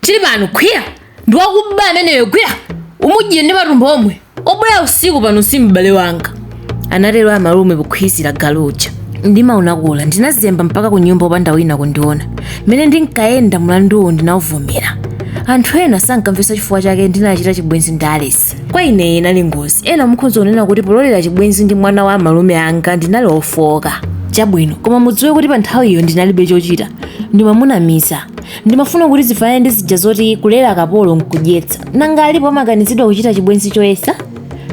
tili pano khwiya ndi wakuba ameneyo gwira umudye ndi matumbo omwe obwera usiku pano si m'bale wanga anatero amalume pokhwizira galu uja ndimaunakula ndinazemba mpaka ku nyumba opanda wina kundiona mmene ndinkayenda mlanduwu ndinauvomera anthu ena sankamvetsa chifukwa chake ndinachita chibwenzi ndi alesi kwa ineyi inali ngozi ena mukhoza kunena kuti pololera chibwenzi ndi mwana wa amalume anga ndinali ofooka chabwino koma mudziwe kuti pa nthawiyo ndinalibe chochita ndimamunamiza Ndimafuna kuti zifanane ndi zija zoti kulera kapolo nkudyetsa. Nanga alipo amakanizidwa kuchita chibwenzi choyesa?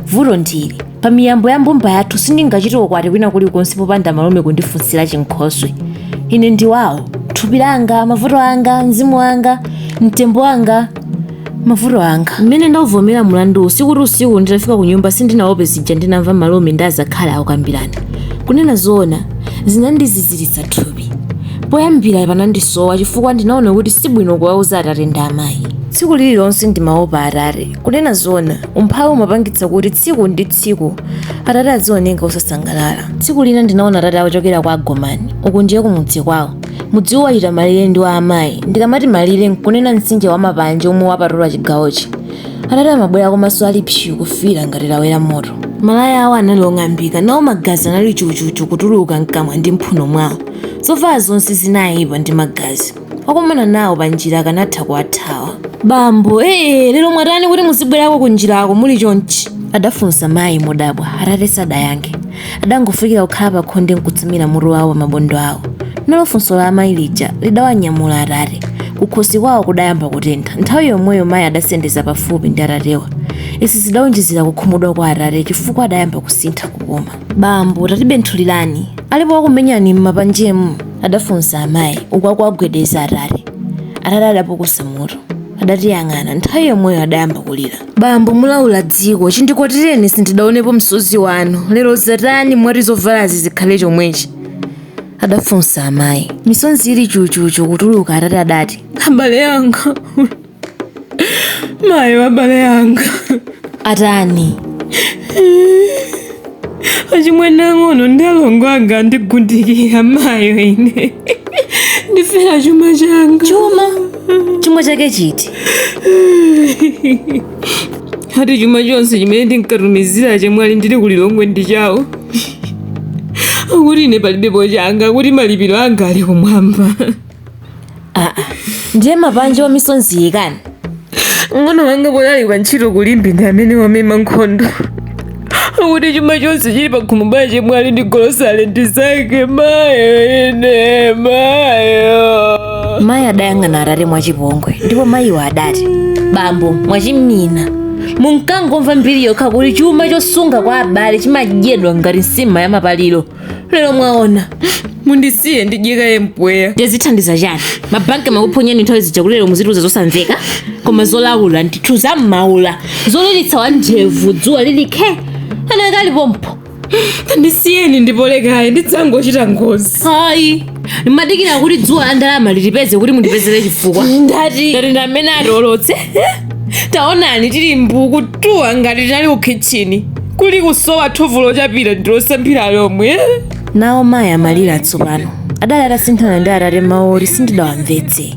Vuto ndili. Pa miyambo ya mbumba yathu sindingachite ukwati kwina kulikonse popanda amalume kundifunsira chinkhoswe. Ine ndi wawo. Thupi langa, mavuto anga, mzimu wanga, mtembo wanga. mavuto anga mmene ndauvomera mlanduwu sikuti usiku nditafika ku nyumba sindinaope zija ndinamva amalume ndi azakhali akukambirana kunena zoona zinandiziziritsa thupi poyambira panandisowa chifukwa ndinaona kuti sibwino kuwauza atate ndi amayi tsiku lililonse ndimaopa atate kunena zoona umphawi umapangitsa kuti tsiku ndi tsiku atate azioneka osasangalala tsiku lina ndinaona atate akuchokera kwa agomani uku ndiye kumudzi kwawo mudziwu wachita malire ndi wa amayi ndikamati malire nkunena mtsinje wa mapanje omwe wapatula chigawochi atate amabwera komanso ali psu kufiira ngati lawera moto malaya awo anali ong'ambika nawo magazi anali chuchuchu kutuluka mkamwa ndi mphuno mwawo zovala zonse zinayipa ndi magazi okumana nawo pa njira akanatha kuwathawa bambo ee lero mwatani kuti muzibwerako ku njirako muli chonchi adafunsa mayi modabwa atate sadayankhe adangofikira kukhala pakhonde nkutsamira mutu wawo pamabondo awo nalo funso la amayi lija lidawanyamula atate kukhosi kwawo kudayamba kutentha nthawi yomweyo mayi adasendeza pafupi ndi atatewa izi zidaonjezera kukhumudwa kwa atate chifukwa adayamba kusintha kupuma bambo tatibenthulirani alipo wakumenyani m'mapanjemu adafunsa amayi uku akuwagwedeza atate atate adapukusa mutu adatiyang'ana nthawi yomweyo adayamba kulira bambo mulaula dziko chindikwatirireni sindidaonepo msozi wanu lero zatani mwati zovalazi zikhale chomwechi adafunsa amayi misonzi ili chuchuchu kutuluka atate adati abale anga mayi abale anga atani achimwene ang'ono ndi alongo anga andigundikira mayo ine ndifera chuma changa chuma chuma chake chiti ati chuma chonse chimene ndinkatumizira chemwali ndili ku lilongwe ndi chawo akuti ine palibepo changa kuti malipiro anga ali kumwamba ndiye mapanje wa misonzi ikani mng'ono wanga poyali pa ntchito kulimbi ndi amene wamema nkhondo akuti chuma chonse chili pa khomopa ya chemwali ndi golosale ndi zake mayo ine mayo mayi adayang'ana atate mwachipongwe ndipo mayiwo adati bambo mwachimina munkangomva mbiri yokha kuti chuma chosunga kwa abale chimadyedwa ngati nsima ya mapaliro lero mwaona mundisiye ndidyekaye mpweya ndizithandiza chani mabanki makuphonyeni nthawi zija kuti lero muzituza zosamveka koma zolawula ndithu zam'maula zolilitsa wa ndevu dzuwa likhe anakali pompo tandisiyeni ndipolekayi ndidzangochita ngozi hayi ndimadikira kuti dzuwa la ndalama litipeze kuti mundipezere chifukwa ndati ndati ndi amene atolotse taonani tili mbu kutuwa ngati tinali ku khitchini kuli kusowa thovu lochapira ndi losambira lomwe nawo mayi amalira tsopano adali atasinthana ndi atate mawu oti sindidawamvetse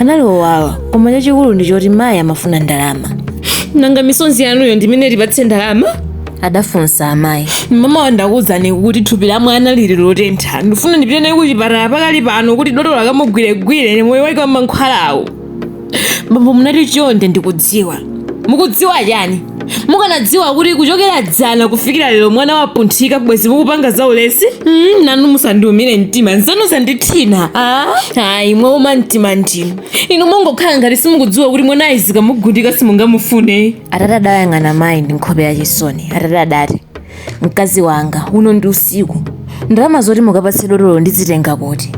anali owawa koma chachikulu ndi choti mayi amafuna ndalama nanga misonzi yanuyo ndi imene itipatse ndalama adafunsa amayi mama ndakuwuzani kuti thupi la mwana lili lotentha ndifuna ndipite naye kuchipatala pakali pano kuti dotolo akamugwiregwire ndi moyo wake wa mankhwalawo bambo munati chonde ndikudziwa mukudziwa chani mukanadziwa kuti kuchokera dzana kufikira lero mwana wapunthika bwezi mukupanga za ulesi nanu musandiumire mtima zanu zandithina ayi mwauma mtima ndinu inu mungokhala ngati simukudziwa kuti mwanayu zikamugundika simungamufune atate adayang'ana mayi ndi nkhope ya chisoni atate adati mkazi wanga uno ndi usiku ndalama zoti mukapatse dotolo ndizitenga kuti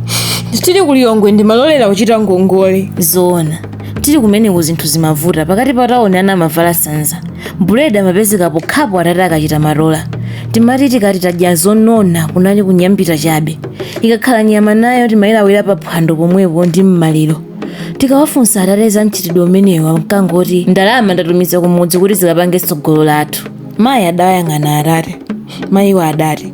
tili ku Lilongwe ndimalolera kuchita ngongole zoona tili kumeneko zinthu zimavuta pakati pa tauni ana amavala sanza buledi amapezeka pokhapo atate akachita matola timati tikati tadya zonona kunali kunyambita chabe ikakhala nyama nayo timayilawira pa phwando pomwepo ndi mmaliro tikawafunsa atate za mchitidwe umenewu ankangoti ndalama ndatumiza kumudzi kuti zikapange tsogolo lathu mayi adawayang'ana atate mayiwo adati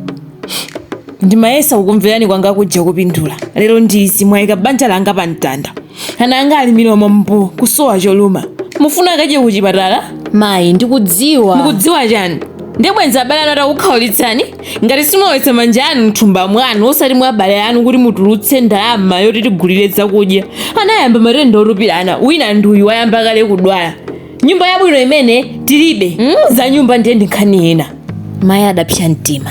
ndimayesa kukumverani kwanga kuja kupindula lero ndizi mwayika banja langa pa mtanda ana anga ali milomo mbu kusowa choluma mufuna akadye kuchipatala mayi ndikudziwa mukudziwa chani ndiye bwenzi abale anu atakukhaulitsani ngati simulowetsa manja anu mthumba mwanu osati mwa abale anu kuti mutulutse ndalama yoti tigulire zakudya ana ayamba matenda otupirana wina ndi uyu wayamba kale kudwala nyumba yabwino imene tilibe za nyumba ndiye ndi nkhani ina mayi adapsa mtima